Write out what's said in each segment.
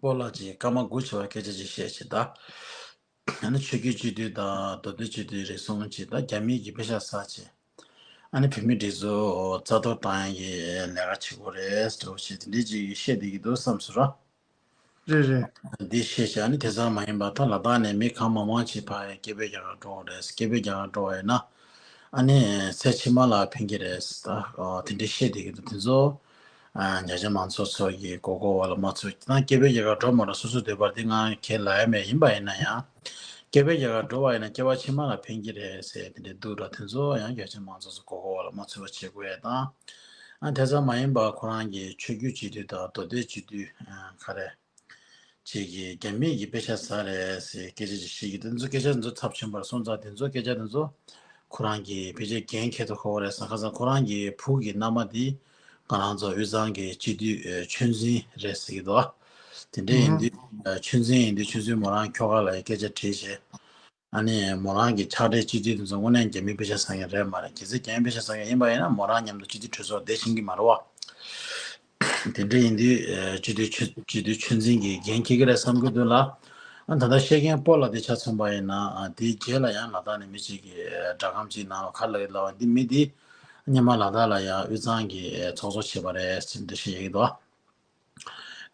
པོ་ལགས་ཀྱིས་སྐར་མ་དགུ་ཆེ་བ་སྐད་ཆ་ཅིག་བཤད་ཅེས་དང། ཡང་ན་ཆོས་རྒྱུད་སྤྱི་འཐུས་དང་མདོ་སྟོད་སྤྱི་འཐུས་རེ་ཟུང་གཅིག་དང་རྒྱ་མིའི་གྱི་དཔེ་ཆ་ཟ་ཅེས། ཨ་ནི་བོད་མི་འདི་ཚོ་རྩ་གཏོར་བཏང་ཡང་གི་ལས་ཀ་བྱེད་དགོས་རེད་ཟེར་བ་ཞིག་དེ་འདྲས་ཅིག་བཤད་བསྡད་ཀྱི་འདུག་བསམས་སོ་ར། རེད་རེད། འདི་བཤད་བྱ་ནི་དེ་ཙམ་མ་ཡིན་པར་ད་ལ་དག་ནས་མི་གང་མང་མང་ཞིག་འཕགས་ཡང་སྐད་འབོད་རྒྱག་ག་འགྲོ་འོང་རེད་སྐད་འབོད་རྒྱག་ག་འགྲོ་བ་ཡིན་ན། ཨ་ནི་ཚེ་ཕྱི་མ་ལ་ཕན་གྱི་རེད། དེ་འདྲས་བཤད་བསྡད་ཀྱི་འདུག་དེ་ཚོ་རྒྱ་ཆེ་མང་ཚོགས་ཚོ་ཡི་མགོ་སྐོར་བ་ལ་མ་ཚོས་ཏང་སྐྱེ་བོའི་རྒྱལ་ཁ་འགྲོ་མ་འགྲོ་སོ་སོས་འདོད་པར་དེ་ང་གེ་ལ་ཡ་མེད་ཡིན་པ་ཡིན་ན་ཡང། སྐྱེ་བོའི་རྒྱལ་ཁ་འགྲོ་བ་ཡིན་ན་སྐྱེ་བ་ཕྱི་མ་ལ་ཕན་གྱི་རེད་ཟེར་དེ་འདྲའི་འདུག་ད་དེ་ཚོ་ཡང་རྒྱ་ཆེ་མང་ཚོགས་ཚོ་མགོ་སྐོར་བ་ལ་མ་ཚོས་བ་བྱེད་དགོས་ཡས་དང། དེ་ཙམ་མ་ཡིན་པར་ཁོ་རང་གི་ཆོས་རྒྱུད་སྤྱི་འཐུས་དང་མདོ་སྡེ་སྤྱི་འཐུས། ཁ་རས། ཅིག་གིས་རྒྱ་མིའི་ཡི་པེ་ཤ་ཟ་རེད་ཟེར་སྐད་ཆ་ཅིག་བཤད་ཀྱི་འདུག་སྐད་ཆ་འདི་ཚོ་ཚབས་ཆེན་པོར་སོང་ཙང་དེ་ཚོ་སྐད་ཆ་འདི་ཚོ་ཁོ་རང་གི་བེད་སྤྱད་འགན་འཁྱེར་དུ་ཁོ་བོ་རེད་བསམ་ཁ་སང་ཁོ་རང་གི་བུ་གི་མནའ་མ་དེ་ང་རང་ཚོ་དབུས་གཙང་གི་སྤྱི་འཐུས་ཆོས་འཛིན་རེད་ཟེར་གྱི་འདུག་དེ་འདྲ་ཡིན་དུས་ཆོས་འཛིན་ཡིན་དུས་ཆོས་འཛིན་མོ་རང་ཁྱོ་ག་ལ་ཡི་སྐད་ཆ་དྲིས་བྱས། ཨ་ནི་མོ་རང་གི་ཕྱག་སྦྲེལ་སྤྱི་ཏི་དེ་ཚོ་དངོས་གནས་རྒྱ་མིའི་དཔེ་ཆ་བཟང་ཡ་རེད་མ་རེད་གལ་སྲིད་རྒྱ་ཡན་དཔེ་ཆ་བཟང་ཡ་ཡིན་པ་ཡིན་ན་མོ་རང་མཉམ་དུ་སྤྱི་ཏི་གྲོས་ཚོགས་བསྡད་ཕྱིན་གི་མ་རེད་བ། དེ་འདྲ་ཡིན་དུས་སྤྱི་ཏི་སྤྱི་ཏི་ཆོས་འཛིན་གི་འགན་ཁྱེར་གི་རེད་བསམ་གི་འདུག་ལ། ཨ་ད་ལྟ་བཤད་མཁན་སྤོ་ལ་དེ་ཆ་མཚོན་པ་ཡིན་ན་དེའི་རྗེས་ལ་ཡང་ལ་དྭགས་ནས་མི་ཅིག་གིས་སྒྲ་སྒམ་ཅིག་གནང་བ་ཁ་ལ་ཡོད་ལ་བ་འདི་མི་འདིས་རྙེད་མ་ལ་དྭགས་ལ་ཡང་དབུས་གཙང་གི་ཚོགས་གཙོ་བྱས་པ་རེད་ཅེས་འདི་བཤད་ཡག་གི་འདུག་བ།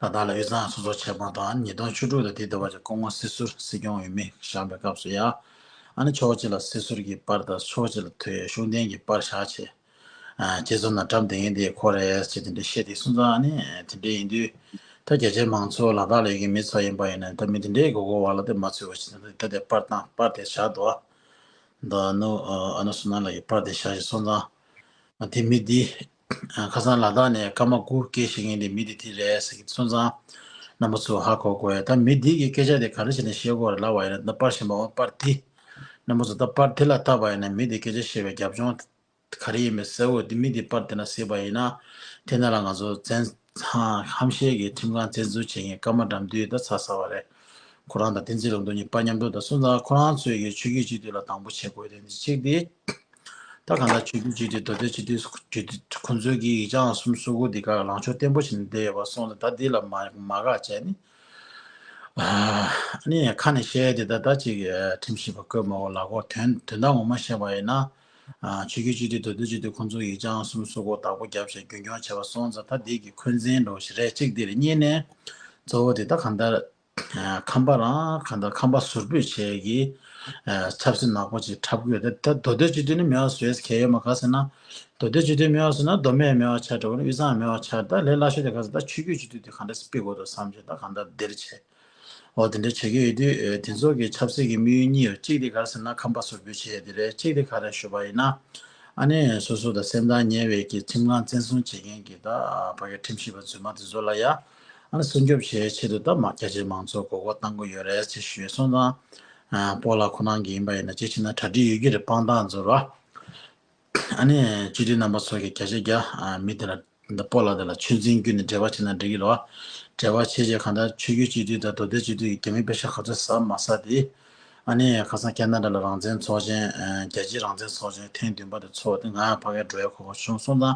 ད་ལྟ་ལ་དབུས་གཙང་སོ་སོར་ཆད་པ་དང་ཉིས་སྟོང་བཅུ་དྲུག་ལ་དེའི་འདུ་བ་ཅན་སྐུ་ངོ་སྲིད་ཟུར་སྲིད་སྐྱོང་འོས་མི་བཞག་པའི་སྐབས་སུ་ཡང། ཨ་ནི་ཕྱོགས་གཅིག་ལ་སྲིད་ཟུར་གྱི་པར་དང་ཕྱོགས་གཅིག་ལ་དོལ་གཞུང་བསྟེན་གྱི་པར་བཞག་ཆེ། རྗེ་བཙུན་ནང་བཀྲམ་དེ་ཡིན་དེ་ཁོ་རེད་ཅེས་དེ་འདྲའི་བཤད་དེ་སུན་ཙང་ཨ་ནི་དེ་འདྲའི་ཡིན་དུས། ད་རྒྱ་ཆེའི་མང་ཚོགས་ལ་དྭགས་ལ་ཡོད་ཀྱི་མི་ཚོ་ཡིན་པ་ཡིན་ན་ད་མི་དེ་འདྲའི་མགོ་སྐོར་བ་ལ་དེ་མ་ཚོས་བ་ཞིག་ད་དེ་པར་དང་པར་དེ་བཞག་འདུག་ཨ། ད་ཨ་ནུ་ཨ་ནུ་སུ་ན་ལ་ཡི་པར་དེ་བཞག་ཞེས་སོང་ཙང། དེ་མི་འདི། ཁ་སང་ལ་དྭགས་ནས་སྐར་མ་དགུ་སྐྱེས་ཤིག་ཡིན་དེ་མི་དེ་དེ་རེད་ཟེར་གི་གསོན་ཚང་རྣམ་པ་ཚོ་ཧ་གོ་གོ་ཡ་ད་མི་དེ་གི་སྐད་ཆ་དེ་ག་རེ་བྱས་ནས་བཤད་གོ་ར་ལ་བ་ཡིན་ན་ད་པར་ཞིམ་པ་བ་པར་དེ་རྣམ་པ་ཚོ་ད་པར་དེ་ལ་ལྟ་བ་ཡིན་ན་མི་དེ་སྐད་ཆ་བཤད་པའི་རྒྱབ་ལྗོངས་ག་རེ་ཡིན་པའི་ཟེར་འོ་དེ་མི་དེ་པར་དེ་ན་ཟེར་བ་ཡིན་ན་དེ་ན་ལ་ང་ཚོ་བཙན། ཚང་ཁམས་ཤེལ་གྱི་ཁྲིམས་ཁང་བཙན་འཛུལ་བྱས་ངས་སྐར་མ་དགྲམ་དུས་ད་ཚ་ས་བ་རེད། ཁོ་རང་དང་བསྟན་འཛིན་ལམ་འགྲོ་གཉིས་པ་མཉམ་འགྲོ་དང་སོང་ཙང་ཁོ་རང་ཚོས་ཀྱི་ཆོས་རྒྱུད་གཅིག་སྡུད་ལ་དང་པོ་བྱེད་དགོས་དོན་དེ་གཅིག་སྟེ། ད་གང་ལྟར་ཆོས་རྒྱུད་གཅིག་སྡུད་མདོ་སྟོད་སྤྱི་འཐུས་ཁོ་ཚོའི་གི་ཡིག་ཆའང་གསུམ་སོ་དགུ་འདི་ག་ལངས་ཕྱོགས་བརྟན་པོ་བྱས་ནས་བསྡད་ཡོད་པ་སོང་ལ་ད་འདི་ལ་མ་དགག་བྱས་ནས། ཨཱ་ནི་ཁ་ནས་བཤད་དེ་ད་ད་ཅིག་ཁྲིམས་ཞིབ་པ་བསྐོས་མ་འོང་ལ་གོ་དོན་དོན་དག་ངོ་མ་བཤད་པ་ཡིན་ན། ཆོས་རྒྱུད་སྤྱི་འཐུས་དོལ་རྡུལ་སྤྱི་འཐུས་ཁོང་ཚོ་ཡིས་སྤྱང་གསུམ་སོག་ཁོག་དག་པོ་བརྒྱབ་བྱས་རྒྱུན་སྐྱོང་བྱས་པ་སོང་ཙང་ད་འདི་གི་འཁོན་འཛིན་འགྲོ་བཞིན་རེད་གཅིག་འདིར་རྙེད་ནས་གཙོ་བོ་དེ་དག་གང་ལྟར་ཁམས་པ་རང་གང་ལྟར་ཁམས་པ་ཟུར་འབོད་བྱས་ཀྱི་ཆབ་སྲིད་ནག་པོ་ཅིག་འཁྲབ་དགོས་ད་ད་དོལ་རྡུལ་སྤྱི་འཐུས་ནི་མེད་བ་བཟོས་གལ་ཡོད་མ་ག་ཟེར་ན་དོལ་རྡུལ་སྤྱི་འཐུས་མེད་བ་ཟེར་ན་མདོ་སྨད་མེད་བ་ཆགས་དགྲ་བོ་ནི་དབུས་གཙང་མེད་བ་ཆགས་ད་ལས་སླ་ཤོས་དེ་ག་ཟེར་ད་ཆོས་རྒྱུད་སྤྱི་འཐུས་དེ་གང་འདྲ་སྤེལ་དགོས་འདུག་བསམ་བྱས་ད་གང་ལྟར་འདིར་བྱས། འོ་དེ་འདྲ་བྱེད་ཀྱི་ཡོད་དུས་དེ་ཚོགས་ཀྱི་ཆབ་སྲིད་ཀྱི་དམིགས་ཡུལ་གཉིས་ཡོད་གཅིག་དེ་གར་ཟེར་ན་ཁམས་པ་སོ་བོས་བྱེད་ཡ་དེ་རེད་གཅིག་དེ་ག་རེ་ཞུ་བ་ཡིན་ན་ཨ་ནེ་སོ་སོ་དང་སེམས་ཐག་ཉེ་བའི་གི་ཁྲིམས་ཁང་བཙན་བཟུང་བྱེད་མཁན་གི་ད་བར་གི་ཁྲིམས་ཞིབ་པ་རྫུན་མ་དེ་ཚོ་ལ་ཡ་ཨ་ནེ་སྲུང་སྐྱོབ་བྱེད་ཆེད་དུ་ད་མ་རྒྱ་ཆེའི་མང་ཚོགས་མགོ་སྐོར་བཏང་གི་ཡོད་རེད་ཅེས་ཞུས་སོང་ཙང་པོ་ལགས་ཁོ་རང་གི་ཡིན་པ་ཡིན་ན་ཅིག་བྱས་ན་གྲ་སྒྲིག་ཡོད་ཀྱི་རེད་དཔང་རྟགས་འཛོར་བ། ཨ་ནི་སྤྱི་འཐུས་རྣམ་པ་ཚོ་གི་བརྒྱ་ཆ་བརྒྱ་མི་དེ་ལ་སྤོ་ལ་དེ་ལ་ཆོས་འཛིན་རྒྱུ་ནི་འབྲེལ་བ་བྱེད་ན་འགྲིག་གི་རེད། འབྲེལ་བ་བྱེད་བྱེད་གང་ལྟར་ཆོས་རྒྱུད་སྤྱི་འཐུས་དང་དོ་བདེ་སྤྱི་འཐུས་ཀྱི་རྒྱ་མི་དཔེ་ཆ་ག་ཚོད་ཟ་མ་ཟ་དེ། ཨ་ནི་ཁ་སང་ཀན་ད་རཱ་ལ་རང་བཙན་ཚོགས་ཆེན་རྒྱལ་སྤྱིའི་རང་བཙན་ཚོགས་ཆེན་ཐེངས་བདུན་པ་དེ་ཚོགས་དེ་ང་ཕ་གའི་འགྲོ་བའི་གོ་ཁ་བྱུང་སོང་ད།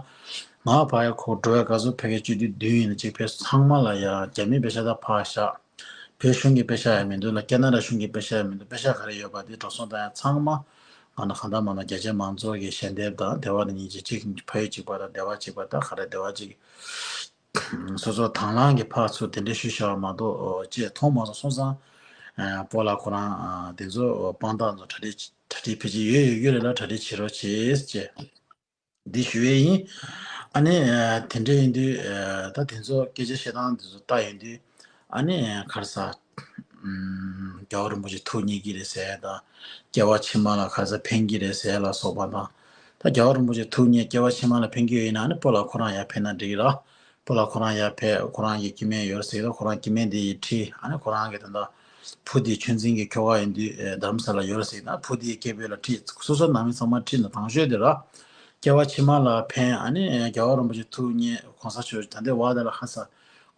ང་ཕ་གའི་འགྲོ་བའི་ག་ཚོད་ཕེབས་མཁན་སྤྱི་འཐུས་བདུན་ཡིན་ན་གཅིག་ཕེབས་ཚང་མ་ལ་ཡང་རྒྱ་མི་དཔེ་ཆ་དག་ཕ་བཞག། བོད་གཞུང་གི་དཔེ་ཆ་ཡང་མི་འདུག་ལ་ཀེ་ན་ར་གཞུང་གི་དཔེ་ཆ་ཡང་མི་འདུག་དཔེ་ཆ་ག་རེ་ཡོད་པ་དེ་འགྲོ་སོང་དང་ཡང་ཚང་མ། ང་ནི་གང་ལྟར་མ་གནང་རྒྱ་ཆེའི་མང་ཚོགས་ཀྱི་ཞལ་འདེབས་དང་སྡེ་བ་ནི་གཉིས་ཅིག་གཅིག་ནི་ཕ་ཡུལ་གཅིག་པ་དང་སྡེ་བ་གཅིག་པ་དང་ག་རེ་སྡེ་བ་གཅིག་གི། སོ་སོ་དྭང་བླངས་ཀྱི་ཕག་ཚུལ་དེ་འདྲའི་ཤུལ་བཞག་མ་གཏོགས་ཅེས་མཐོང་མ་སོང་སོང་ཙང། པོ་ལགས་ཁོ་རང་དེ་ཚོ་དཔང་རྟགས་ཚོ་གྲ་སྒྲིག་གྲ་སྒྲིག་ཕལ་ཆེར་ཡོད་ཡོད་ཡོད་རེད་ལ་གྲ་སྒྲིག་བྱེད་རོགས་བྱེད་ཅེས། འདི་ཞུ་ཡས་ཡིན། ཨ་ནི། དེ་འདྲ་ཡིན་དུས། ད་དེ་ཚོ་སྐད་ཆ་བཤད་སྟངས་དེ་ཚོ་ལྟ་ཡོང་དུས། ཨ་ནི། ཁར་ས། རྒྱལ་བ་རིན་པོ་ཆེ་ཐུགས་མཉེས་ཀྱི་རེད་ཟེར་དང། སྐྱེ་བ་ཕྱི་མ་ལ་ཁར་ས་འཕེན་གྱི་རེད་ཟེར་ལ་སོགས་པ་དང། ད་རྒྱལ་བ་རིན་པོ་ཆེ་ཐུགས་མཉེས་སྐྱེ་བ་ཕྱི་མ་ལ་འཕེན་གྱི་ཡོད་ཡིན་ན་ཨ་ནི་སྤོ་ལ་ཁོ་རང་ཡར་འཕེན་ན་འགྲིག་ལ། སྤོ་ལ་ཁོ་རང་ཡར་འཕེན་ཁོ་རང་གི་སྐྱེ་དམན་ཡོད་རེད་ཟེར་གི་ད་ཁོ་རང་སྐྱེ་དམན་དེ་ཡི་ཁྲི་ཨ་ནི་ཁོ་རང་གི་ད། བུ་དེ་ཆོས་འཛིན་གྱི་ཁྱོ་ག་ཡིན་དུས་དར་མ་ས་ལ་ཡོད་ར་ཟིག་ན་བུ་དེའི་སྐྱེ་བོས་ལ་ཁྲིད་སོ་སོ་ནང་མི་ཚང་མ་ཁྲིད་ན་དང་ཤོས་དེ་ར་སྐྱེ་བ་ཕྱི་མ་ལ་ཕན་ཨ་ནི་རྒྱལ་བ་རིན་པོ་ཆེ་ཐུགས་མཉེས་གོང་ས་མཆོག་ད་ལྟའི་བ་ད་ལ་ཧ་ས་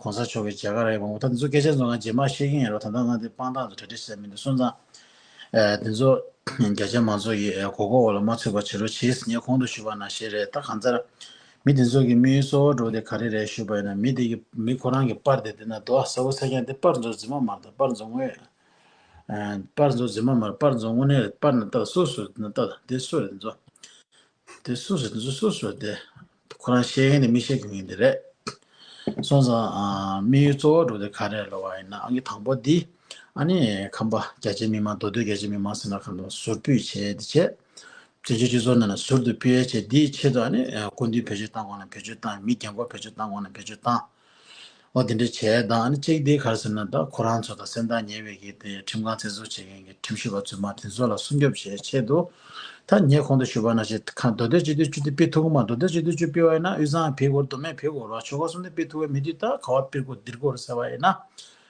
གོང་ས་མཆོག་གི་རྒྱལ་ཁ་ར་ཡི་མང་པོ་ད་འདི་ཚོ་སྐད་ཆ་ཚོ་ང་རྗེས་མར་བཤད་ཀྱིན་ཡིན་རོགས་ད་ལྟ་ང་འདི་དཔང་རྟགས་ཚོ་གྲ་སྒྲིག་བྱས་མིན་འདུག་སོན་ཙང་འདི་ཚོ་རྒྱ་ཆེ་མང་ཚོ་ཡི་གོ་གོ་འོག་ལ་མ་ཚུད་པ་བྱེད་རོགས་ཕྱིས་ངས་གོང་དུ་ཞུས་པ་ན་ཞེས་རེད་ད་གང་ཚར་མི་དེ་ཚོ་གི་མིའི་སོ་བ་འགྲོ་དེ་ག་རེ་རེད་ཞུས་པ་ཡིན་ན་མི་དེ་གི་མི་ཁོ་རང་གི་སྤར་དེ་དེ་ན་དོ་ཨ་ས་བོ་ས་ཀྱང་དེ་སྤར་འཛོ་རྫི་མ་མར་དང་སྤར་འཛོ་དངོས་སྤར་འཛོ་རྫི་མ་མར་སྤར་འཛོ་དངོས་ནས་རེད་སྤར་ན་ཏར་སུ་སུ་རེད་ན་ཏར་དེ་སུ་རེད་འཛོ་དེ་སུ་རེད་འཛོ་སུ་སུ་རེད་དེ་ཁོ་རང་ཤེས་གིན་དེ་མི་ཤེས་གིན་གིན་དེ་རེད་སོང་ཙང་མིའི་སོ་བ་འགྲོ་དེ་ག་རེ་ལོ་བ་ཡིན་ན་ཨང་གི་དང་པོ་དེ་ཨ་ནི་ཁམས་པ་རྒྱ་ཆེ་མི་མང་མདོ་སྟོད་རྒྱ་ཆེ་མི་མང་སེ་ན་ཁམས་པ་ཟུར་ཕུད་བྱས་དེ་བྱས། བཙན་བྱོལ་སྤྱི་ཚོགས་ནང་ལ་ཟུར་དུ་སྤེལ་ཡ་བྱས་དེའི་ཆེད་དུ་ནི་སྐུ་མདུན་བེད་སྤྱོད་བཏང་གོང་ནས་བེད་སྤྱོད་བཏང་མི་རྒན་འཁོར་བེད་སྤྱོད་བཏང་གོང་ནས་བེད་སྤྱོད་བཏང་བ་དེ་འདྲ་བྱས་དང་ནི་གཅིག་དེ་གར་ཟེར་ན་ད་ཁོ་རང་ཚོ་དང་སེམས་ཐག་ཉེ་བའི་གི་དེ་ཁྲིམས་ཁང་བཙན་བཟུང་བྱེད་མཁན་གི་ཁྲིམས་ཞིབ་པ་ཚོས་མ་དེ་ཚོ་ལ་སྲུང་སྐྱོབ་བྱས་ཆེད་དུ་ད་ངས་གོང་དུ་ཞུ་བ་ན་ཆེད་ཁང་མདོ་སྟོད་སྤྱི་འཐུས་བཅུ་དེ་སྤེལ་ཐུབ་གོ་མ་མདོ་སྟོད་སྤྱི་འཐུས་བཅུ་སྤེལ་བ་ཡིན་ན་དབུས་གཙང་བེད་དགོས་མདོ་སྨད་བེད་དགོས་རོགས་ཆོལ་ཁ་གསུམ་དེ་སྤེལ་ཐུབ་བས་མི་དུས་ད་ག་བ་སྤེལ་དགོས་འདིར་དགོས་རེད་ཟེར་བ་ཡིན་ན་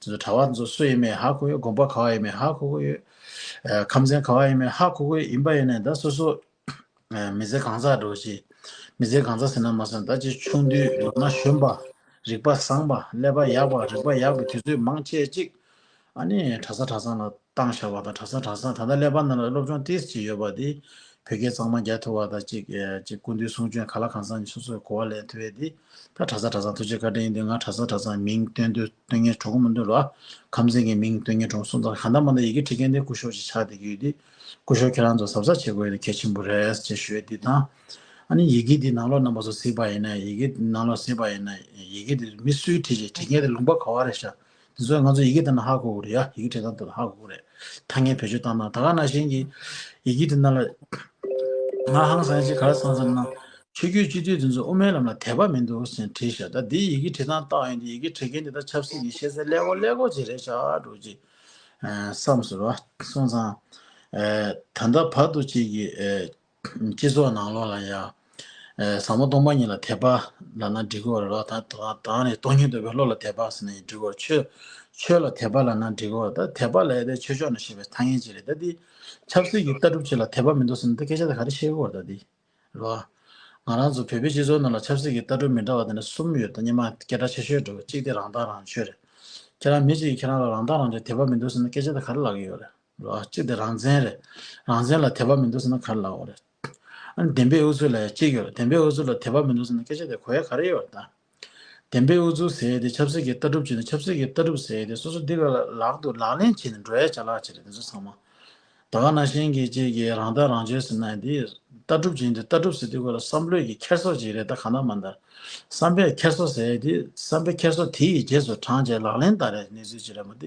དེ་ཚོ་གྲྭ་བ་ཚོ་སུ་ཡིན་མིན་ཧ་གོ་ཡོད་དགོངས་པ་ག་བ་ཡིན་མིན་ཧ་གོ་གོ་ཡོད། ཁམས་ཚན་ག་བ་ཡིན་མིན་ཧ་གོ་གོ་ཡིན་པ་ཡིན་ནའི་ད་སོ་སོ་མི་ཚེ་གང་ཟག་འགྲོ་བཞིན་མི་ཚེ་གང་ཟག་ཟེར་ན་མ་ཟད་ད་ཅི་ཆུང་དུས་ལོ་ན་གཞོན་པ་རིག་པ་བཟང་པ་ཀླད་པ་ཡག་པ་རིག་པ་ཡག་པའི་དུས་ཚོད་མང་ཆེ་གཅིག་ཨ་ནི་གྲྭ་ས་གྲྭ་ཚང་ལ་བཏང་བཞག་པ་དང་གྲྭ་ཚང་གྲྭ་ཚང་ད་ལྟ་ཀླད་པ་རྣམས་ལ་སློབ་སྦྱོང་ཏིས་ཅིག་ཡོད་པ་དེ་བོད་སྐད་གཙང་མ་རྒྱག་ཐུབ་པ་དང་གཅིག་གཅིག་སྐུ་མདུན་གསུང་ཆོས་ག་ལ་གང་ཚང་གཉིས་སོ་སོས་གོ་བ་ལེན་ཐུབ་བས་དེ་ད་གྲྭ་ཚང་གྲྭ་ཚང་ཐུགས་རྗེ་བཀའ་དྲིན་ཡིན་དུས་ང་གྲྭ་ཚང་གྲྭ་ཚང་མིང་བཏོན་དུས་སྟོན་ངན་གྲོགས་མི་འདུག་ལ། ཁམས་ཚན་གྱི་མིང་སྟོན་ངན་གྲོགས་སུ་འདུག་གང་ལྟར་མ་མཐའ་ཡི་གེ་ཁྲིད་མཁན་དེ་སྐུ་ཞོགས་ཅིག་ཆགས་བསྡད་ཀྱི་ཡོད་དུས་སྐུ་ཞོགས་ཁྱེད་རང་ཚོ་གཟབ་གཟབ་བྱེད་དགོས་ཡོད་གལ་ཆེན་པོ་རེད་ཅེས་ཞུ་ཡོད་དེ་དང། ཨ་ནི་ཡི་གེ་འདི་ནང་ལོགས་རྣམ་པ་ཚོ་གཟིགས་པ་ཡིན་ན་ཡི་གེ་འདི་ནང་ལོགས་གཟིགས་པ་ཡིན་ན་ཡི་གེ་འདི་མི་སུའི་ཁྲིད་ཅིག་ཁྲིད་མཁན་དེ་ལུང་པ་ག་བ་རེད་ཤག་དེ་ཚོ་ང་ཚོ་ཡི་གེ་བལྟ་ན་ཧ་གོ་གོ་རེད་ཡ་ཡི་གེ་བྲིས་ན་ཏོ་ཧ་གོ་གོ་རེད། ཐ་སྙད་བེད་སྤྱོད་བཏང་ན་ད་ག་ན་གཞན་གྱི་ཡི་གེ་དེ་ན་ལ། ང་ཧང་སངས་ཅིག་ག་རེ་སངས་སམ་ན། ཆོས་རྒྱུད་སྤྱི་འཐུས་དེ་ཚོ་དབུ་མའི་ལམ་ལ་དད་པ་མི་འདུག་ཟེར་བྲིས་ཤག་ད་འདིའི་ཡི་གེ་བྲིས་སྟངས་རྟགས་ཡིན་དུས་ཡི་གེ་བྲིས་མཁན་དེ་དག་ཆབ་སྲིད་ཀྱི་ཤེས་ཚད་ཀླད་ཀོར་ཀླད་ཀོར་ཅིག་རེད་ཤག་འགྲོ་ཅིག། བསམས་ཟེར་བ་སོང་ཙང། ད་ལྟ་བར་དུ་ཅིག་གིས། སྤྱི་ཚོགས་ནང་ལོགས་ལ་ཡང། བཟང་མོ་སྟོང་པ་ཉིད་ལ་དད་པ། ལ་ན་འགྲིག་གོ། རོ་ད་དང་ནི་སྟོང་ཉིད་འདོད་པའི་བློ་ལ་དད་པ་ཟེར་ན་ཡང་འགྲིག་གོ། ཆོས། ཆོས་ལ་དད་པ་ལ་ན་འགྲིག་གོ། ད་དད་པ་ལ་ཡོད་པའི་ཆོས་ཕྱོགས་ན་ཞེས་པའི་ཐ་སྙད་ཅིག་རེད་ད་འདི། ཆབ་སྲིད་ཀྱི་ལྟ་གྲུབ་ཅིག་ལ་དད་པ་མི་འདུག་ཟེར་ན་ད་སྐད་ཆ་དེ་ག་རེ་བཤད་གོ་ད་འདི། རོ། ང་རང་ཚོ་བོད་པའི་སྤྱི་ཚོགས་ནང་ལ་ཆབ་སྲིད་ཀྱི་ལྟ་གྲུབ་མི་འདྲ་བ་དེ་འདྲ་གསུམ་ཡོད་ད་སྙན་མ་སྐད་གྲགས་ཆེ་ཤོས་འགྲོ་གི་གཅིག་དེ་རང་ཐག་རང་གཅོད་རེད། ཁྱེད་རང་མི་གཅིག་གིས་ཁྱེད་རང་ལ་རང་ཐག་རང་གཅོད་དད་པ་མི་འདུག་ཟེར་ན་སྐད་ཆ་དེ་ག་རེ་ལབ་ཀྱི་ཡོད་རེད། གཅིག་དེ་རང་བཙན་རེད། རང་བཙན་ལ་དད་པ་མི་འདུག་ཟེར་ན་ག་རེ་ལ་འོ་རེད། ཨ་ནི་བདེན་པའི་ཨུ་ཚུགས་ལ་ཡང་གཅིག་ཡོད་རེད། བདེན་པའི་ཨུ་ཚུགས་ལ་དད་པ་མི་འདུག་ཟེར་ན་སྐད་ཆ་དེ་གོ་ཡ་ག་རེ་ཡོད་རེད་ད། བདེན་པའི་ཨུ་ཚུགས་ཟེར་ཡས་དེ་ཆབ་སྲིད་ཀྱི་ལྟ་གྲུབ་བྱས་ནས་ཆབ་སྲིད་ཀྱི་ལྟ་གྲུབ་ཟེར་ཡས་དེ་སོ་སོ་འདི་ག་ལ་ལག་ཏུ་ལག་ལེན་བྱས་ནས་འགྲོ་ཡ་ཆ་ལག་ཆ་རེད་དེ་ཚོ་ཚང་མ། ད་ག་ན་གཞན་གྱི་གཅིག་གིས་རང་ལྟ་རང་འཇོལ་ཟེར་ན་ཡང་དེ་ལྟ་གྲུབ་ཅིག་ཡིན་དུས་ལྟ་གྲུབ་ཟེར་དུས་གོ་ལ་བསམ་བློས་ཀྱི་འཁྱེར་སོ་ཅིག་རེད་ད་ག་ན་མ་འདར། བསམ་པའི་འཁྱེར་སོ་ཟེར་ཡས་དེ་བསམ་པའི་འཁྱེར་སོ་དེ་ཡི་རྗེས་སུ་འབྲངས་བྱས་ལག་ལེན་བསྟར་ཡས་གནས་ཚུལ་ཅིག་རེད་མ་དེ་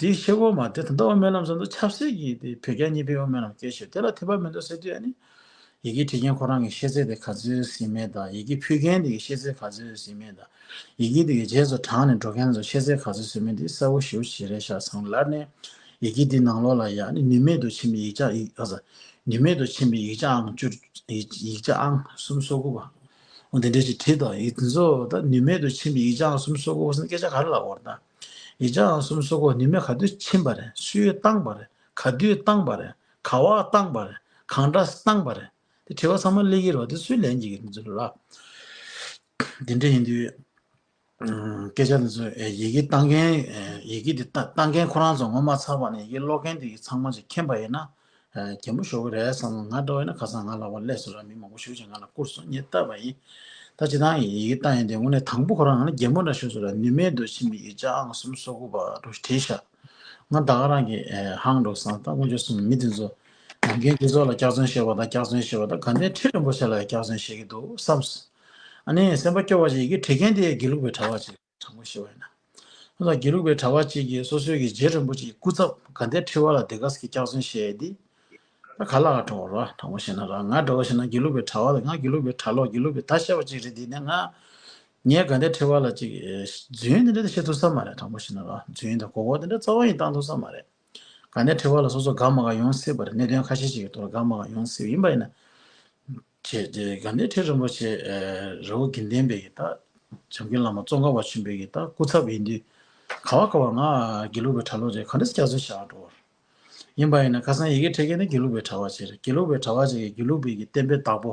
དེའི་ཤེལ་སྒོ་མ་དེ་དོན་དག་བ་སྨོན་ལམ་ཟེར་འདུག་ཆབ་སྲིད་ཀྱི་དེ་བོད་རྒྱ་གཉིས་ཕན་བ་སྨོན་ལམ་སྐད་ཤོད་དེ་ལ་ཐེ་བ་མི་འདུག་ཟེར་དུས་ཡ་ནི། ཡི་གེ་བྲིས་མཁན་ཁོ་རང་གི་ཤེས་ཚད་དེ་ག་ཚོད་ཟིན་མེད་དང་ཡི་གེ་ཕུལ་མཁན་དེ་གི་ཤེས་ཚད་ག་ཚོད་ཟིན་མེད་དང། ཡི་གེ་དེ་གི་རྗེས་སུ་དྲངས་ནས་འགྲོ་མཁན་ཚོ་ཤེས་ཚད་ག་ཚོད་ཟིན་མེད་དེ་གསལ་བོ་ཞུ་ཞེས་རེ་བཞག་སང་ལར་ནས། ཡི་གེ་དེའི་ནང་ལོགས་ལ་ཡ་ནི་ནུས་མེད་དུ་ཕྱིན་པའི་ཡིག་ཆ་ཡིག་ཨ། ནུས་མེད་དུ་ཕྱིན་པའི་ཡིག་ཆ་ཨང་བཅུ། ཡིག་ཆ་ཨང་གསུམ་སོ་དགུ་བ། འོ་དེ་འདྲའི་ཞིག་བྲིས་དང་ཡིག་དེ་ཚོ་ད་ནུས་མེད་དུ་ཕྱིན་པའི་ཡིག་ཆ་ཨང་གསུམ་སོ་དགུ་བ་ཟེར་ན་སྐད་ཆ་ག་རེ་ལ་འོར་དང། ཡི་ཆ་འང་གསུམ་སོག་གོ་ནི་མེ་ག་དུས་ཕྱིན་པ་རེད་སུས་བཏང་པ་རེད་ག་དུས་བཏང་པ་རེད་ག་བ་བཏང་པ་རེད་གང་འདྲ་བཏང་པ་རེད་དེ་དྲི་བ་ཚང་མ་ལེགས་ཡིན་རོགས་དེ་སུས་ལན་གྱི་གི་འདི་ཚོ་ལ་དེ་འདྲ་ཡིན་དུས་སྐད་ཆ་འདི་ཚོ་ཡི་གེ་བཏང་མཁན་ཡི་གེ་འདི་བཏང་མཁན་ཁོ་རང་ཚོ་ངོ་མ་ཚར་བ་ནས་ཡི་གེ་ཀློག་མཁན་དེ་གི་ཚང་མ་ཞིག་མཁྱེན་པ་ཡིན་ན་རྒན་པོ་ཞོགས་ཀྱི་རས་སམ་ང་འདྲ་བས་ན་ཁ་སང་ང་ལ་བ་ཀླས་སུ་ར་མི་མང་པོ་ཞུགས་ཅིང་ང་ལ་བསྐུར་སོང་ངས་བལྟ་བ་ཡིན། ད་ཇི་ལྟར་ཡིན་ཡིག་བཏང་ཡིན་དེ་དངོས་གནས་དང་པོ་ཁོ་རང་ང་ལ་རྒན་པོ་འདྲ་ཞུས་སོང་ར་ནུས་མེད་དུ་ཕྱིན་པའི་ཡིག་ཆ་ཨང་གསུམ་སོ་དགུ་བར་དུ་བྲིས་ཤག་ང་ད་ག་རང་གིས་ཧང་འགྲོ་སང་ད་དངོས་བྱུང་གསུམ་ནི་མི་དེ་ཚོ་ནམ་རྒན་འདི་ཚོ་ལ་སྐྱག་རྫུན་བཤད་པ་དང་སྐྱག་རྫུན་བཤད་པ་དང་དགའ་ལྡན་ཁྲི་རིན་པོ་ཆེ་ལ་ཡང་སྐྱག་རྫུན་བཤད་ཀྱི་འདུག་བསམས། ཨ་ནི་སེམས་པ་སྐྱོ་བ་ཞིག་ཡི་གེ་བྲིས་མཁན་དེ་ཡི་གེ་ལུགས་པའི་གྲྭ་བ་ཅིག། དྲང་པོ་ཞུ་བ་ཡིན། ཨ་ཙང་དགེ་ལུགས་པའི་གྲྭ་བ་གཅིག་གིས་སོ་སོའི་གི་རྗེ་རིན་པོ་ཆེའི་སྐུ་ཚབ་དགའ་ལྡན་ཁྲི་བ་ལ་དེ་ག་ཟིག་གི་སྐྱག་རྫུན་བཤད་ཡས་འདི། ད་ག་ལ་ག་དྲོ་བ་ར་དྲང་པོ་བཤད་ན་ར་ང་དྲོ་བ་བཤད་ན་དགེ་ལུགས་པའི་གྲྭ་བ་ལ་ང་དགེ་ལུགས་པའི་གྲྭ་ལོག་དགེ་ལུགས་པའི་ད་བཤད་པ་གཅིག་རེད་འདི་ནས་ང། ངས་ག་འདྲའི་ཁྲི་བ་ལ་གཅིག་རྫུན་འདི་འདྲ་ད་བཤད་ཐུབ་ས་མ་རེད་དྲང་པོ་བཤད་ན་ར་རྫུན་དང་གོ་གོ་འདི་འདྲ་རྩ་བ་ཡིན་བཏང་ཐུབ་ས་མ་རེད། དགའ་ནས་ཁྲེལ་བ་ལ་སོ་སོ་དགའ་མ་དགའ་ཡོང་སྲིད་པ་རེད་གནད་དོན་ཁ་ཤས་ཤིག་གི་ཐོག་ལ་དགའ་མ་དགའ་ཡོང་སྲིད་པ་ཡིན་པ་ཡིན་ན། ཅེས་དེ་དགའ་ནས་ཁྲེལ་རིན་པོ་ཆེ་རི་བོ་དགེ་ལྡན་པའི་ཡི་དྭགས་བྱམས་མཁན་བླ་མ་ཙོང་ཁ་བ་ཆེན་པོའི་ཡི་དྭགས་སྐུ་ཚབ་ཡིན་དུས་ག་བ་ག་བ་ང་དགེ་ལུགས་པའི་གྲྭ་ལོག་རེད་ག་འདྲ་སྐྱག་རྫུན་བཤད་ཨ་འགྲོ། ཡིན་པ་ཡིན་ན་ཁ་སང་ཡི་གེ་ཕྲེད་མཁན་ནི་དགེ་ལུགས་པའི་གྲྭ་བ་ཆེ་རེད་དགེ་ལུགས་པའི་གྲྭ་བ་ཆེ་གི་དགེ་ལུགས་པའི་གི་བསྟན་པའི་བདག་པོ།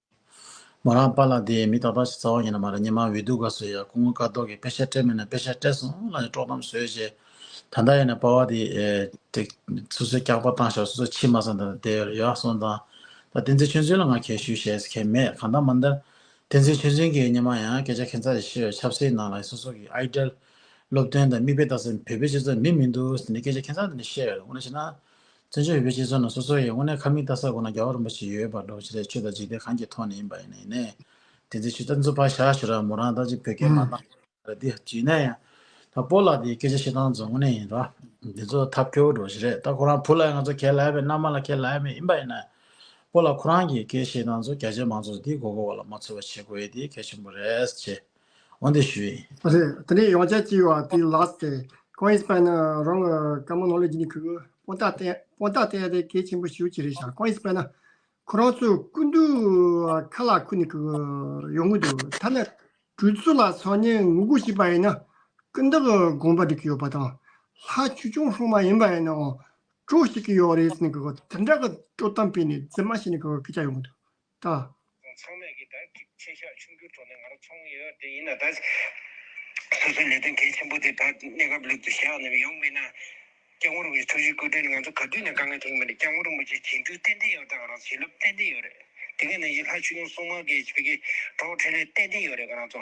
མོ་རང་པཱ་ལགས་འདི་མི་ཏག་ཏག་ཞིག་རྩ་བ་ཡིན་ནི་མ་རེད་ཉི་མ་འོད་དུ་དགའ་བསུ་ཡ་སྐུ་ངོ་དཀའ་རྡོག་གིས་དཔེ་ཆ་སྤྲད་མེད་ན་དཔེ་ཆ་སྤྲད་སོང་སླ་ཡི་དཀྲོག་གཏམ་བཟོས་རྗེས་ད་ལྟ་ཡིན་ན་པཱ་བ་འདི་དེ་སོ་སོའི་སྐྱག་པ་བཏང་ཞོར་སོ་སོ་ཕྱི་མ་ས་འདི་ལ་དེ་ཡག་སོང་དང་ད་བསྟན་འཛིན་ཆོས་འཛིན་ལ་ང་གལ་ཞུ་བྱེད་ས་ཁེལ་མེད་གང་ལྟར་མ་འདི་བསྟན་འཛིན་ཆོས་འཛིན་གྱི་ཉི་མ་ཡང་སྐད་ཆ་ཁེ་མཚར་ཞིག་བཤད་བའི་ཆབ་སྲིད་ནང་ལ་སོ་སོ་གི Idol སློབ་སྟོན་དང་མིག་དཔེ་ལྟ་སའི་བོད་པའི་སྤྱི་ཚོགས་མི་མི་འདུག་ཟེར་ནས་སྐད་ཆ་ཁེ་མཚར་འདི་འདྲ་བཤད་འོ་ན་བྱས་ན། བཙན་བྱོལ་བོད་པའི་སྤྱི་ཚོགས་ནང་སོ་སོ་ཡི་དངོས་གནས་ཁ་མིག་ལྟ་ས་དགོས་ན་རྒྱ་བོད་རིན་པོ་ཆེ་ཡོད་པར་འགྲོ་བྱས་ལས་ཆོས་དང་འཇིག་རྟེན་གང་གི་ཐོག་ནས་ཡིན་པ་ཡིན་ན་ཡིན་ནས། དེ་ཚོའི་ཆུ་རྟ་མཛོད་ཕར་བཞག་ཞུ་ར་མོ་རང་ད་ཅིག་བོད་སྐད་མ་གཏང་ཞེས་ར་འདི་བརྗིད་ན་ཡང། ད་སྤོ་ལགས་འདིའི་སྐད་ཆ་ཤེས་སྟངས་ཚོ་དངོས་གནས་ཡིན་ར། འདི་ཚོ་ཐབས་སྐྱོ་བོ་འགྲོ་བྱས་རེད་ད་ཁོ་རང་བུ་ལ་ཡང་ང་ཚོ་ཁས་ལེན་པའི་མནའ་མ་ལ་ཁས་ལེན་མེད་ཡིན་པ་ཡིན་ན། སྤོ་ལགས་ཁོ་རང་གི་སྐད་ཤེས་སྟངས་ཚོ་རྒྱ་ཆེ་མང་ཚོགས་འདིའི་མགོ་སྐོར་བ་ལ་མ་འཚོལ་བ་བྱེད་དགོས་འདི་གལ་ཆེན་པོ་རེད། འོན་ཏེ་ཞུས། རེད་དེ་ནས་ཡོང་ཆ་གཅིག་བ་དེ་ལགས་ཏེ་ཁོང་ཨིས་པན་རང་གི་བཀའ་མོ་ནོ་ལེ་ཇི་ནི་ཁུ་པོ་ཏ་ཏན་པོ་ཏ་ཏན་རེད་གལ་ཆེན་པོ་ཞུ་གཅིག་རེད་ཤག་ཁོང་ཨིས་པན་ཁོ་རང་ཚོའི་སྐུ་མདུན་ཁ་ལག་ཁུ་ནི་ཁུ་ཡོང་གི་འདུག་ཐ་ན་གྲོས་ཚོགས་ལ་ཚང་ཉེ་ངུ་གུ་ཞིག་པ་ཡིན་ན་ཀུན་བརྟག་དགོངས་པ་འདྲི་གི་ཡོད་པ་དང་ལྷ་ཆུ་ཆུང་ཧྲོང་མ་ཡིན་པ་ཡིན་ནའང་སྤྲོ་ཞིག་གི་ཡོད་རེད་ནི་ཁུ་དེ་འདྲ་གི་སྤྲོ་གཏམ་སྤེལ་ནི་རྫི་མ་ཞིག་ནི་ཁུ་ཁྱ་ཡོང་གི་འདུག་ལྟ། རྫོང་ཚང་མས་ཀྱི་དག་ཐེར་ཆེ་ཤག་ཕྱུག་འགྱུར་ཐོག་ནས་ང་རང་ཚོང་ཡོད་དེ་ཡིན་ན་ད། སོ་སོའི་ལས་དོན་གལ་ཆེན་པོ་དེ་དག་གནས་སྐབས་ལེགས་པོ་ཞག་ནས་ཡོང་མེད་ན། སྐྱབས་ངོར་བའི་འཚོ་བྱེད་བཀོད་སྒྲིག་ནི་ང་ཚོ་ག་དུས་ནས་དགའ་ངེས་ཐེངས་མེད་ལ་སྐྱབས་ངོར་མུ་ཆེ་བྱེད་འདུན་ཏན་ཏན་ཡོད་དང་ང་རང་ཚོ་བྱིན་རླབས་ཏན་ཏན་ཡོད་རེད་དེ་སྔའི་ནང་བཞིན་ལྷ་ཆོས་ཡུམ་སྲུང་མ་གི་བོད་ཀྱི་གྲོགས་འཕྲིན་ལས་ཏན་ཏན་ཡོད་རེད་ང་རང་ཚོ་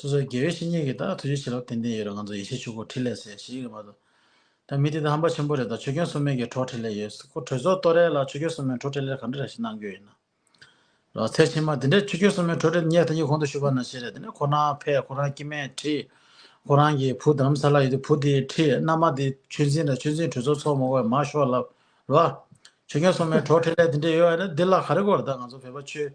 སོ་སོའི་དགེ་བའི་བཤེས་གཉེན་གྱིས་ད་ཐུགས་རྗེ་ཆེ་ལབ་ཏན་ཏན་ཡོད་རེད་ང་ཚོ་ཡེ་ཤེས་ཆོས་འཁོར་འཕྲིན་ལས་ཟེར་ཞེས་ཡི་གེ་མ་གཏོགས་ད་མི་དེ་དང་ཧམ་པ་ཆེན་པོ་རེད་ད་ཆོས་སྐྱོན་སོ་མེན་གྱི་བྲོ་འཕྲིན་ལས་ཡོད་སྐོར་གྲོས་ཚོགས་གཏོར་རས་ལ་ཆོས་སྐྱོན་སོ་མེན་བྲོ་འཕྲིན་ལས་གང་འདྲ་རེ་ཞིག་གནང་རྒྱུ་ཡིན་ན་རོགས་ཚེ་ཕྱི་མ་དེ་འདྲས་ཆོས་སྐྱོན་སོ་མེན་བྲོ་འཕྲིན་ཉེར་ཐ་གཉིས་གོང་དུ་ཞུ་བ་ན་ཤེས་རེད་དེ་ནས་ཁོ་རང་ཕས་ཁོ་རང་སྐྱིད་མེད་ཁྲིད། ཁོ་རང་གི་བུ་དརམ་ས་ལ་ཡོད་དུས་བུ་དེ་ཁྲིད་མནའ་མ་དེ་ཆོས་འཛིན་དང་ཆོས་འཛིན་གྲོས་ཚོགས་ཚོགས་མ་གོ་བས་མ་ཤོག་ལབ། ལ། ཆོས་རྒྱལ་སྲུང་མའི་བྲོ་ཁྲེལ་ལས་དེ་འདྲས་ཡོད་རེད་འདི་ལ་ག་རེ་གོ་རེ་ད་ང་ཚོ་བོད་པ་ཆོས་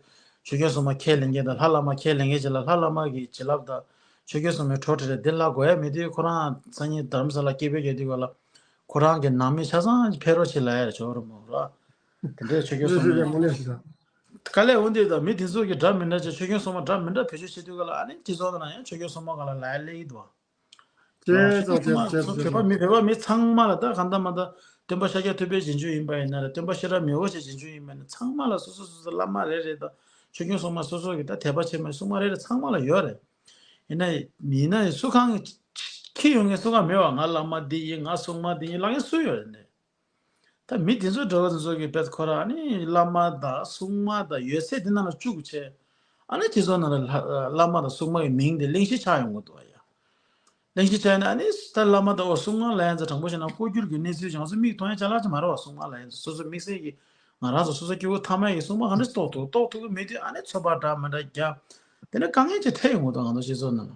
ཆོས་རྒྱལ་སྲུང་མ་ཁས་ལེན་མཁན་དང་ལྷ་བླ་མ་ཁས་ལེན་མཁན་བྱེད་ལ་ལྷ་བླ་མ་གིས་བྱིན་རླབས་དང་ཆོས་རྒྱལ་སྲུང་མའི་བྲོ་ཁྲེལ་རེད་འདི་ལྷ་གོ་ཡ་མི་དུས་ཁོ་རང་སང་ཉིན་དར་མ་ས་ལ་སྐྱེས་བུ་རྒྱལ་དུས་ག་ལ་ཁོ་རང་གི་ནང་མི་ཆ་ཚང་གི་ཕེ་རོ་བྱེད་ལ་ཡ་རེད་ཆོག་རེད་མོ་ལ། དེ་འདྲས་ཆོས་རྒྱལ་སྲུང་མའི། དཀའ་ལས་འོན་དུས་ད་མི་དེ་ཚོ་གི་འདྲ་མི་འདྲ་ཆེ་ཆོས་རྒྱལ་སྲུང་མ་འདྲ་མི་འདྲ་བེད་སྤྱོད་བྱེད་དུས་ག་ལ་ཨ་ནི་དེ་ཚོ་ན་ཡང་ཆོས་རྒྱལ་སྲུང་མ་ག་ལ་ལ་ཡ་ལས་ཡིད་དུ་བ། ཅེས་སོགས་ཆེད་དུ་བྱས་སོ། མི་ཕལ་བ་མི་ཚང་མ་ལ་ད་གང་ད་མ་ད་སྟོན་པ་ཤཱཀྱ་ཐུབ་པའི་རྗེས་འཇུག་ཡིན་པ་ཡིན་ན་རེད་སྟོན་པ་ཤེས་རབ་མི་བོ་ཆེ་རྗེས་འཇུག་ཡིན་པ་ཡིན་ན་ཚང་མ་ལ་སོ་སོ་སོ་སོ་བླ་མ་རེ་རེ་ད་ཆོས་སྐྱོང་སྲུང་མ་སོ་སོ་གི་ད་དད་པ་ཆེན་མོའི་སྲུང་མ་རེ་རེ་ཚང་མ་ལ་ཡོད་རེད། ཡིན་ན་ཡིན་ན་ཡིན་སུ་གང་གི་ཁྱི་ཡོང་ངའི་སྲུང་མ་མེད་བ་ང་བླ་མ་འདི་ཡིན་ང་སྲུང་མ་འདི་ཡིན་ལག་ཡིན་སུ་ཡོད་རེད། ད་མི་དེ་ཚོ་འགྲོ་བ་དེ་ཚོ་གི་བེད་ཁོ་རང་ནི་བླ་མ་དང་སྲུང་མ་དང་ཡོད་ཚད་དེ་རྣམས་ལ་བཅུག་གི་བྱས། ཨ་ནི་དེ་ཚོ་རྣམས་ལ་བླ་མ་དང་སྲུང་མ་གི་མིང་དེ་གླེང་གཞི་ཆགས་ཡོང་གི་འདུག་བ་ཡ། གླེང་གཞི་ཆགས་ནས་ཨ་ནི་ད་བླ་མ་དང་འོ་སྲུང་མ་ལ་ཡང་ཚ་དྲང་པོ་བྱས་ན་ལྐོག་གྱུར་གྱི་གནས་ཚུལ་ཅིག་ང་ཚོ་མིག་མཐོང་ཡང་ཆ་ལག་ཅིག་མ་རེད་བ་སྲུང་མ་ལ་ཡང་ཚ་སོ་སོ་དམིགས་བསལ་གྱི་ང་རང་ཚོ་སོ་སོ་སྐྱེ་བོ་ཐ་མལ་གྱི་སྲུང་མ་གང་འདྲ་ཞིག་རྟོགས་ཐུག་རྟོགས་ཐུག་གི་མེད་དུས་ཨ་ནི་ཚོད་དཔག་འདྲ་མི་འདྲ་རྒྱབ། དེ་ནི་དཀའ་ངལ་ཅིག་འཕྲད་ཡོང་གི་འདུག་ང་ཚོ་སྤྱི་ཚོགས་ནང།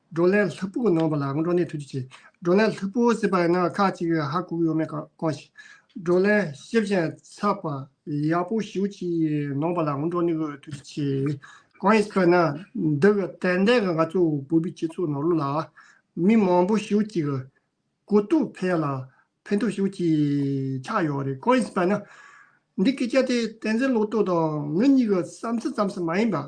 བགྲོ་གླེང་ལྷུག་པོ་གནང་བ་ལ་བགྲོ་གླེང་ཐུགས་རྗེ་ཆེ། བགྲོ་གླེང་ལྷུག་པོ་ཟེར་པ་ཡང་ན་ཁག་ཅིག་ཧ་གོ་ཡོད་མེད་གང་ཞིག། བགྲོ་གླེང་ཤེས་བཞིན་ཚགས་པར་ཡག་པོ་ཞིག་ཅིག་གནང་བ་ལ་བགྲོ་གླེང་ཐུགས་རྗེ་ཆེ། གང་ཡིན་ཟེར་ན་འདི་གི་ཏན་ཏན་གྱི་ང་ཚོ་བོད་པའི་སྤྱི་ཚོགས་ནང་ལོ་ལ་མི་མང་པོ་ཞིག་ཅིག་གི་གོ་རྟོགས་འཕེལ་ལ་ཕན་ཐོགས་ཤིག་ཅིག་ཆགས་ཡོད་རེད་གང་ཡིན་ཟེར་པ་ན། འདི་སྐད་ཆ་དེ་བསྟན་འཛིན་ལོག་རྟོག་དང་ངེད་གཉིས་ཀྱི་བསམ་ཚུལ་ཙམ་ཞིག་མ་ཡིན་པར།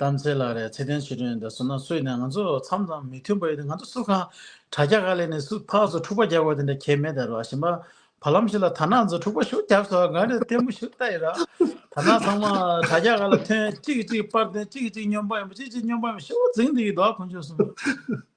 དམ་ཚིག་ལ་རེ་ཚེ་ལྡན་ཞུ་དོན་ཡོད་ད་སུ་ན་སུ་ཡིན་ནས་ང་ཚོ་མཚམས་དང་མི་མཐུན་པ་ཡོད་དེ་ང་ཚོ་སུ་གང་དྲ་རྒྱ་ག་ལས་ནས་སུ་ཕག་ཚོ་འཁྲུག་པ་རྒྱག་དགོས་དེ་འདྲ་གལ་མེད་ད་རོ་གཞན་པ་བར་ལམ་ཞིག་ལ་དར་ནག་ཚོ་འཁྲུག་པ་ཞུ་རྒྱབ་སོ་གང་རེད་བལྟས་མོ་ཞུ་ལྟ་ཡི་རང་དར་ནག་ཚང་མ་དྲ་རྒྱ་ག་ལ་ཐོན་གཅིག་གིས་གཅིག་པར་བསྟན་གཅིག་གིས་གཅིག་སྨྱོན་པ་ཡིན་པ་གཅིག་གཅིག་སྨྱོན་པ་ཡིན་པ་ཞུ་བ་རྫིང་འདི་ཡི་དོ་ཨ་ཁོ་མཆོག་གསུངས།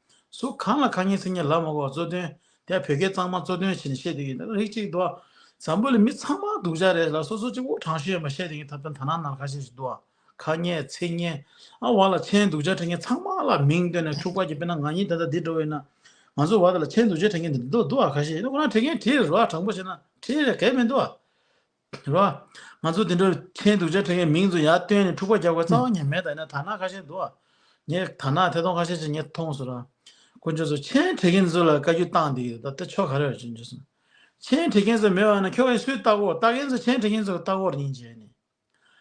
སུ་གང་ལ་གང་ཉིད་སིང་ངེ་ལྷ་མོ་བ་གཙོས་དོན་དེ་བོད་སྐད་གཙང་མ་གཙོས་དོན་བྱེད་ནས་བཤད་དེ་ཡིན་ན་རིགས་གཅིག་འདུག་ཨ། བཟང་པོ་ལས་མི་ཚང་མ་སྡུག་ཅག་རེད་ལ་སོ་སོ་གཅིག་པོ་དྲང་ཤོས་ཡིན་པ་བཤད་དེ་ཡིན་ཐབས་དོན་ཐ་ན་ནར་ཁ་ཤས་ཤིག་འདུག་ཨ། ཁ་སྙན་ཚིག་སྙན་ཨ་བ་ལ་མཆན་སྡུག་ཅག་འཕྲད་མཁན་ཚང་མ་ལ་མིང་བཏོན་ནས་འཁྲུག་པར་གྱིས་དཔེར་ན་ང་གཉིས་ད་ལྟ་འདིར་འགྲོ་བ་ཡིན་ན། ང་ཚོ་བར་ལ་མཆན་སྡུག་ཅག་འཕྲད་མཁན་འདི་འདུག་ཨ་ཁ་ཤས་ཡིན་ན་ཁོ་རང་བྲིས་མཁན་བྲིས་རོགས་ཨ་དྲང་པོ་བྱས་ན་བྲིས་རེད་གལ་མི་འདུག་ཨ། རེད་བ། ང་ཚོ་དེ་འདྲར་ཐལ་འདུག་བྱ་ཐོན་ཡས་མིང་ཚོ་ཡར་བཏོན་ནས་འཁྲུག་པ་རྒྱག་པའི་རྩ་བ་ཉེ་མེད་དག་ཡིན་ན་དར་ནག་ཁ་ཤས་འདུག་བ། ངས་དར་ནག་ཐད་ཐོང་ཁ་ཤས་ཅིག་ངས་མཐོང་སོང་ར། དཀོན་མཆོག་ཚོ་ཆེན་དྲེ་གེན་ཚོ་ལ་བཀའ་རྒྱུད་བཏང་འདི་ད་ལྟ་ཆོ་ག་རེད་བ་ཅིག་འཇུ་སོང། ཆེན་དྲེ་གེན་ཚོ་མེད་བ་ན་ཁྱོ་གས་སུའི་ལྟག་སྒོ་ལྟག་གེན་ཚོ་ཆེན་དྲེ་གེན་ཚོ་ལྟག་སྒོར་ཉིན་བྱས་ནས།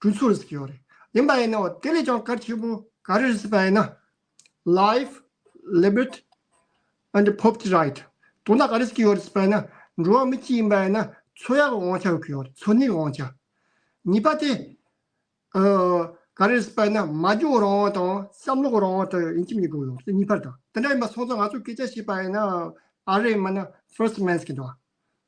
གྲོས་ཚོགས་སུ་བསྐྱོད་རེད་ཡིན་པ་ཡིན་ནའོ་དེ་ལས་ཀྱང་གལ་ཆེ་པོ་ག་རེ་རེད་ཟེར་པ་ཡིན་ན། Life Liberty and Property Right དོ་བདག་ག་རེ་བསྐྱོད་ཡོད་རེད་ཟེར་པ་ཡིན་ན་འགྲོ་བ་མི་གཅིག་ཡིན་པ་ཡིན་ན་འཚོ་ཡག་གི་དབང་ཆ་བསྐྱོད་ཡོད་རེད་འཚོ་གནས་ཀྱི་དབང་ཆ། གཉིས་པ་དེ་ག་རེ་རེད་ཟེར་པ་ཡིན་ན་མ་འཇོག་རང་དབང་དང་བསམ་བློ་གི་རང་དབང་དེ་ཡིན་གྱི་མི་དགོས་ཡོད་རེད་གཉིས་པ་དང་དེ་འདྲ་ཡིན་པ་སོང་ཙང་ང་ཚོས་སྐད་ཆ་བཤད་པ་ཡིན་ན་ཨ་རེ་མིན་ན First Amendment གྱི་འདྲ་བ་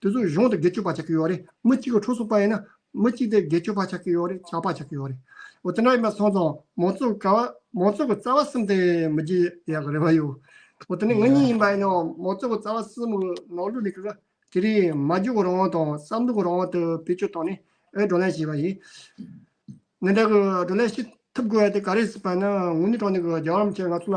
དེ་ཚོ་གཞུང་དུ་དགེ་སྤྱོད་པ་ཆགས་ཀྱི་ཡོད་རེད་མི་གཅིག་གི་འཕྲོ་སོ་པ་ཡིན་ན། མི་གཅིག་དེ་དགེ་སྤྱོད་པ་ཆགས་ཀྱི་ཡོད་རེད་ཆགས་པ་ཆགས་ཀྱི་ཡོད་རེད། འོ་དེ་འདྲ་ཡིན་པ་སོང་ཙང་མང་ཚོགས་ཀྱི་བཀའ་མང་ཚོགས་ཀྱི་རྩ་བ་གསུམ་དེ་མི་བརྗེད་ཡག་གི་རེད་བ་ཡོད། འོ་དེ་ནས་ངེད་གཉིས་ཡིན་པ་ཡིན་ན་མང་ཚོགས་ཀྱི་རྩ་བ་གསུམ་གྱི་ནང་ལུས་ལས་ཀྱི་རེད། དེ་རིང་མ་འཇོག་གི་རང་དབང་དང་བསམ་བློ་གྱི་རང་དབང་དེ་བེད་སྤྱོད་བཏང་ནས་ཨའི་བགྲོ་གླེང་བྱས་པ་ཡིན། འདི་འདྲ་གྱི་བགྲོ་གླེང་བྱེད་ཐུབ་དགོས་ཡ་དེ་ག་རེ་སྲིད་པ་ཡིན་ན་ངུ་ནི་དྲང་ནི་གྱི་རྒྱ་གར་མི་ཆེན་ང་ཚོ་ལ